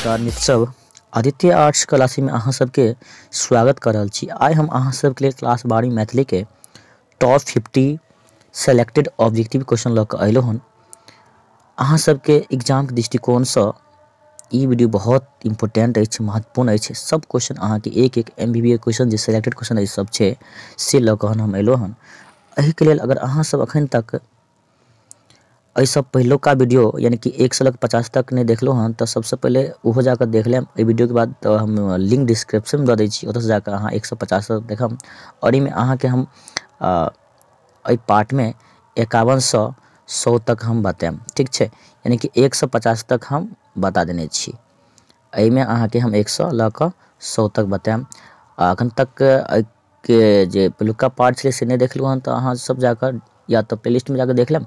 नमस्कार मित्र सब आदित्य आर्ट्स क्लासी में अहाँ सबके स्वागत कर रहल छी आइ हम अहाँ सबके लिए क्लास बारह मैथिली के top fifty selected objective question लऽ कऽ अयलहुँ हन अहाँ सबके एग्जामके दृष्टिकोणसँ ई वीडियो बहुत इम्पोर्टेंट अछि महत्वपूर्ण अछि सब क्वेश्चन अहाँके एक एक M B B S question जे सिलेक्टेड क्वेश्चन अछि सब छै से लऽ कऽ हम एलहुँ हन एहिके लेल अगर अहाँसब एखन तक एहिसँ पहिलुका वीडियो यानि कि एक सए लग पचास तक नहि देखलहुँ हन तऽ सबसँ पहिले ओहो जाकऽ देख लेब एहि वीडियोके बाद तऽ हम लिंक डिस्क्रिप्शन दऽ दै छी ओतऽसँ जाकऽ अहाँ एक सए पचास देखब आओर एहिमे अहाँके हम एहि पार्ट मे एकावन सँ सौ तक हम बताएब ठीक छै यानी कि एक सँ पचास तक हम बता देने छी एहि मे अहाँ के हम एक सँ लऽ कऽ सौ तक बताएब आ अखन तक एहि के जे पहिलुका पार्ट छलै से नहि देखलहुॅं हन तऽ अहाँ सब जाकऽ या तऽ प्ले लिस्ट मे जाकऽ देख लेब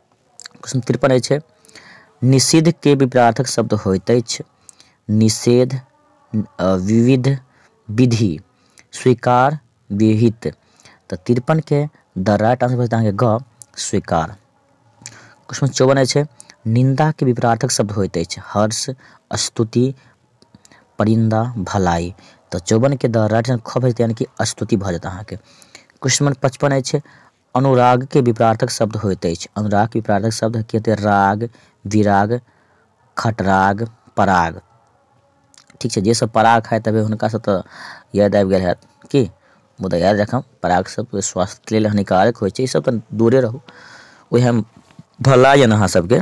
प्रश्न तिरपन अछि निषिद्ध के विपरार्थक शब्द होइत अछि निषेध विविध विधि स्वीकार विहित तऽ तिरपन के द राइट आंसर भेटत अहाँके ग स्वीकार क्वेश्चन चौवन अछि निंदा के विपरार्थक शब्द होइत अछि हर्ष स्तुति परिंदा भलाई तऽ चौवन के द राइट आंसर ख भेटत यानी कि स्तुति भऽ जायत अहाँके क्वेश्चन नंबर पचपन अछि अनुराग के विपरार्थक शब्द होइत अछि। अनुराग के विपरार्थक शब्द हकियते राग, विराग, खटराग, पराग। ठीक छै, जे सब पराग खाइत हेबै हुनका सब त याद आबि गेल हैत कि? मुदा याद राखब पराग सब स्वास्थ्य के लेल हानिकारक होइत छै, ई सब त दूरे रहू। ओहे भला यन अहाँ सब के।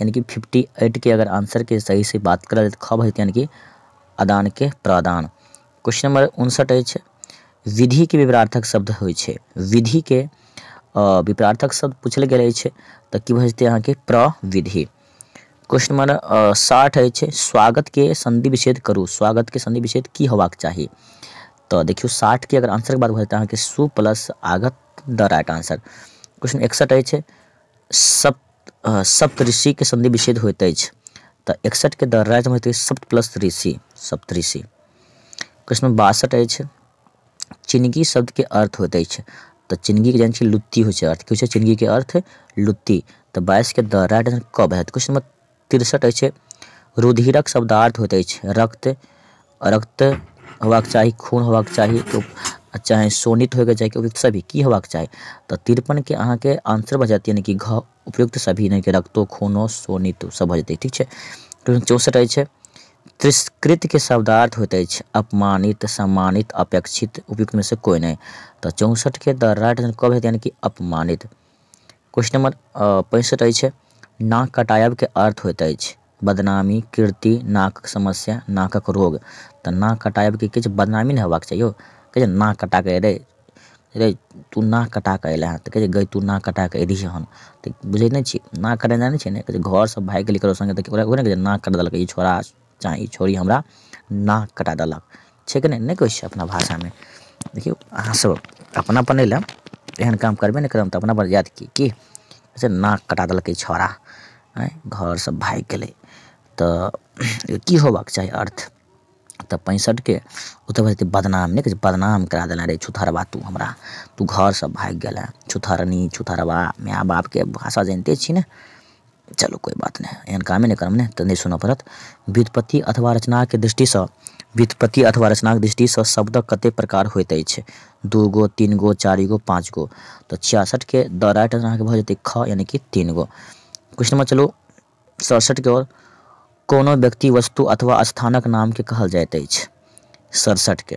यानी कि फिफ्टी एटके अगर आन्सरके सहीसँ बात करल जाय तऽ खब हेतै यानी कि अदानके प्रदान क्वेश्चन नम्बर उनसठि अछि विधिके विपरार्थक शब्द होइ छै विधिके विपरार्थक शब्द पूछल गेल अछि तऽ की भऽ जेतै अहाँके प्रविधि क्वेश्चन नम्बर साठि अछि स्वागतके संधि विच्छेद करू स्वागतके संधि विच्छेद की होबाक चाही तऽ देखियौ साठिके अगर आंसरके बात भऽ जेतै अहाँके सु प्लस आगत द राइट आंसर क्वेश्चन एकसठि अछि सप्त सप्त ऋषिके संधि विच्छेद होइत अछि तऽ एकसठिके दर राजमे होइत अछि सप्त प्लस ऋषि सप्त ऋषि क्वेश्चन नंबर बासठ अछि चिनगी शब्दके अर्थ होइत अछि तऽ चिनगीके जानै छियै लुत्ती होइ छै अर्थ की होइ छै चिनगीके अर्थ लुत्ती तऽ बाइसके दर राइट आंसर कब हैत क्वेश्चन नंबर तिरसठ अछि। रुधिरक शब्दार्थ होइत अछि रक्त। रक्त होयबाक चाही, खून होयबाक चाही, चाहे शोणित होयके चाही, उपयुक्त सभी। की होयबाक चाही? तऽ तिरपनके अहाँके आंसर भऽ जायत यानि कि घ उपयुक्त सभी यानि कि रक्तो, खूनो, शोणितो सभ भऽ जेतै, ठीक छै। प्रश्न चौंसठ अछि। तिरस्कृतके शब्दार्थ होइत अछि अपमानित, सम्मानित, अपेक्षित, उपयुक्तमे सँ कोइ नहि। तऽ चौंसठके द राइट आंसर क भेल यानि कि अपमानित। क्वेश्चन नंबर पैंसठ अछि नाक कटायब के अर्थ होइत अछि बदनामी कीर्ति नाकक समस्या नाकक रोग तऽ नाक कटायब के किछु बदनामी नहि हेबाक चाहिए कहै नाक कटा के रे रे तू नाक कटा के अयला तऽ कहै गई तू नाक कटा के एली हन तऽ बुझै नहि छी नाक कटेनाइ नहि छै ने कहै घर से भागि गेली ककरो संगे तऽ ओकरा कहै नाक कटा देलकै ई छोड़ा चाहे ई छौड़ी हमरा नाक कटा देलक छै कि नहि नहि कहै छै अपना भाषामे देखियौ अहाँ सब अपना पने लए एहन काम करबे नहि करब तऽ अपना पर जायत की की से नाक कटा देलकै छौड़ा आँय घर से भागि गेलै तऽ की होयबाक चाही अर्थ तऽ पैंसठके ओ तऽ भेलै बदनाम नहि कहै छै बदनाम करा देलनि रे छुतहरबा तू हमरा तू घर से भागि गेलेँ छुतहरनी छुतहरबा माय बापके भाषा जनिते छी ने चलू कोइ बात नहि एहन कामे नहि करब ने तऽ नहि सुनऽ पड़त व्युत्पत्ति अथवा रचनाक दृष्टिसँ व्युत्पत्ति अथवा रचनाक दृष्टिसँ शब्दक कते प्रकार होइत अछि दू गो तीन गो चारि गो पाँच गो तऽ छियासठके द राइट आंसर अहाँके भऽ जेतै ख यानि कि तीन गो क्वेश्चन नंबर चलू सड़सठके ओर कोनो व्यक्ति वस्तु अथवा स्थानक नामके कहल जाइत अछि सड़सठके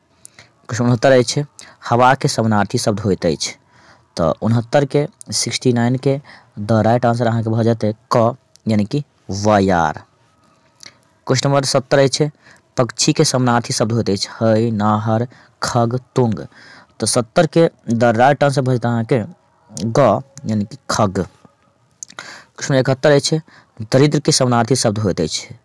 क्वेश्चन उनहत्तर अछि हवा के समानार्थी शब्द होइत अछि तऽ उनहत्तर के सिक्सटी नाइन के द राइट आंसर अहाँके भऽ जेतै क यानी कि वायार क्वेश्चन नंबर सत्तर अछि पक्षी के समानार्थी शब्द होइत अछि हय नाहर खग तुंग तऽ सत्तर के द राइट आंसर भऽ जेतै अहाँके ग यानी कि खग क्वेश्चन इकहत्तर अछि दरिद्र के समानार्थी शब्द होइत अछि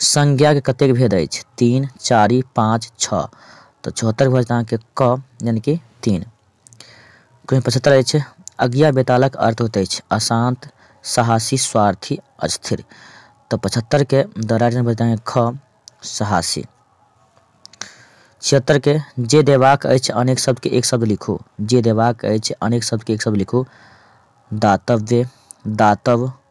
संज्ञाके कतेक भेद अछि तीन चारि पाँच छओ तऽ चौहत्तरि भऽ जायत अहाँके क यानि कि तीन कोन पचहत्तरि अछि अज्ञा बेतालक अर्थ होइत अछि अशान्त साहसी स्वार्थी अस्थिर तऽ पचहत्तरिके दराजन भऽ जायत अहाँके ख साहसी छिहत्तरिके जे देबाक अछि अनेक शब्दके एक शब्द लिखू जे देबाक अछि अनेक शब्दके एक शब्द लिखू दातव्य दातव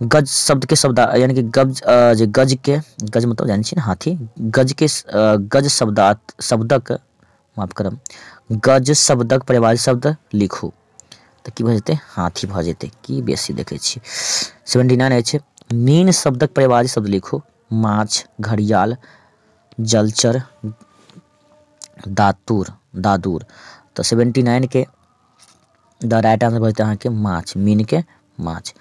गज शब्दके शब्द यानि कि गज जे गजके गज मतलब जानै छी ने हाथी गजके गज शब्द शब्दक माफ करब गज शब्दक परिवार शब्द लिखू तऽ की भऽ जेतै हाथी भऽ जेतै की बेसी देखै छी सेवेंटी नाइन अछि मीन शब्दक परिवार शब्द लिखू माछ घड़ियाल जलचर दातुर दादुर तऽ सेवेंटी नाइनके द राइट आंसर बचत अहाँके माछ मीन के माछ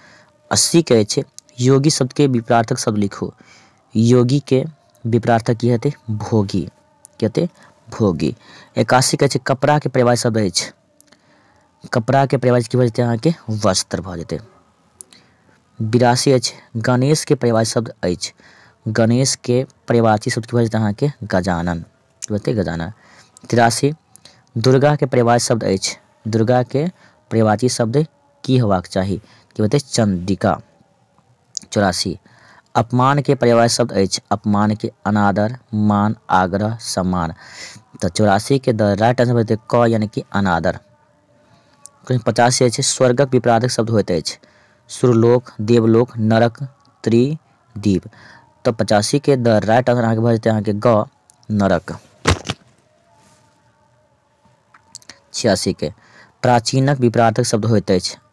अस्सी के अछि योगी शब्द के विपरार्थक शब्द लिखू योगी के विपरार्थक की हेतै भोगी की हेतै भोगी एकासी के छै कपड़ा के परिवार शब्द अछि कपड़ा के परिवार की भऽ जेतै अहाँके वस्त्र भऽ जेतै बिरासी अछि गणेश के परिवार शब्द अछि गणेश के परिवार शब्द की भऽ जेतै अहाँके गजानन तुरते गजाना। तिरासी। दुर्गा के पर्यायवाची शब्द अछि। दुर्गा के पर्यायवाची शब्द की होयबाक चाही? की होयत अछि? चंडिका। चौरासी। अपमान के पर्यायवाची शब्द अछि। अपमान के अनादर, मान, आग्रह, सम्मान। त चौरासी के द राइट आंसर होयत अछि क यानी कि अनादर। कहीं पचासी अछि। स्वर्गक विपराधक शब्द होइत अछि सुरलोक, देवलोक, नरक, त्रिदिव। तँ पचासी केँ द राइट आंसर अहाँक भऽ जेतै अहाँक ग, नरक। छियासी केँ प्राचीनक विपराधक शब्द होइत अछि।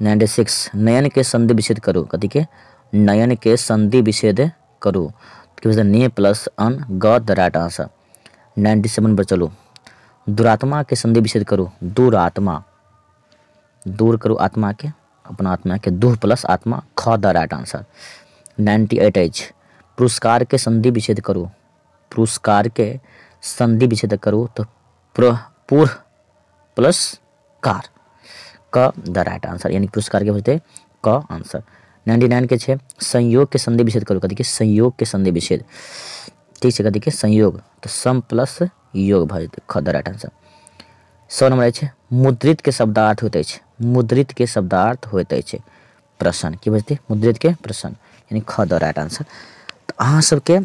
नाइन्टी सिक्स नयन के संधि विच्छेद करू कथी के नयन के संधि विच्छेद करू की भेल ने प्लस अन ग the right answer ninety seven पर चलू दुरात्मा के संधि विच्छेद करू दुरात्मा दूर करू आत्मा के अपना आत्मा के दूह प्लस आत्मा ख the right answer ninety eight अछि पुरस्कार के संधि विच्छेद करू पुरस्कार के संधि विच्छेद करू तो पूर्व पुरस्कार क द राइट आंसर यानी पुरस्कार के होते क आंसर नाइन्टी नाइन के छे संयोग के संधि विच्छेद करो कथी के संयोग के संधि विच्छेद ठीक है कथी के संयोग तो सम प्लस योग भ जेतै ख द राइट आंसर सौ नंबर अछि मुद्रित के शब्दार्थ होते अछि मुद्रित के शब्दार्थ होते अछि प्रश्न की बजते मुद्रित के प्रश्न यानी ख द राइट आंसर तो अहाँ सबके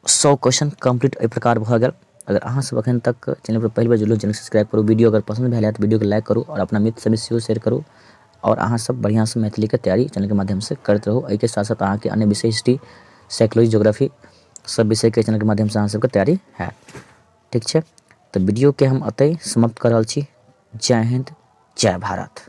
सौ क्वेश्चन कम्प्लीट एहि प्रकार भऽ गेल अगर अहाँ सब अखन तक चैनल पर पहिल बेर जुड़लहुँ चैनल सब्सक्राइब करू वीडियो अगर पसन्द भेल तऽ वीडियोके लाइक करू आओर अपना मित्र सबमे सेहो शेयर करू आओर अहाँ सब बढ़िआँसँ मैथिलीके तैयारी चैनलके माध्यमसँ करैत रहू एहिके साथ साथ अहाँके अन्य विषय हिस्ट्री साइकोलॉजी जोग्राफी सब विषयके चैनलके माध्यमसँ अहाँ सबके तैयारी होयत ठीक छै तऽ वीडियोके हम एतहि समाप्त कऽ रहल छी जय हिन्द जय भारत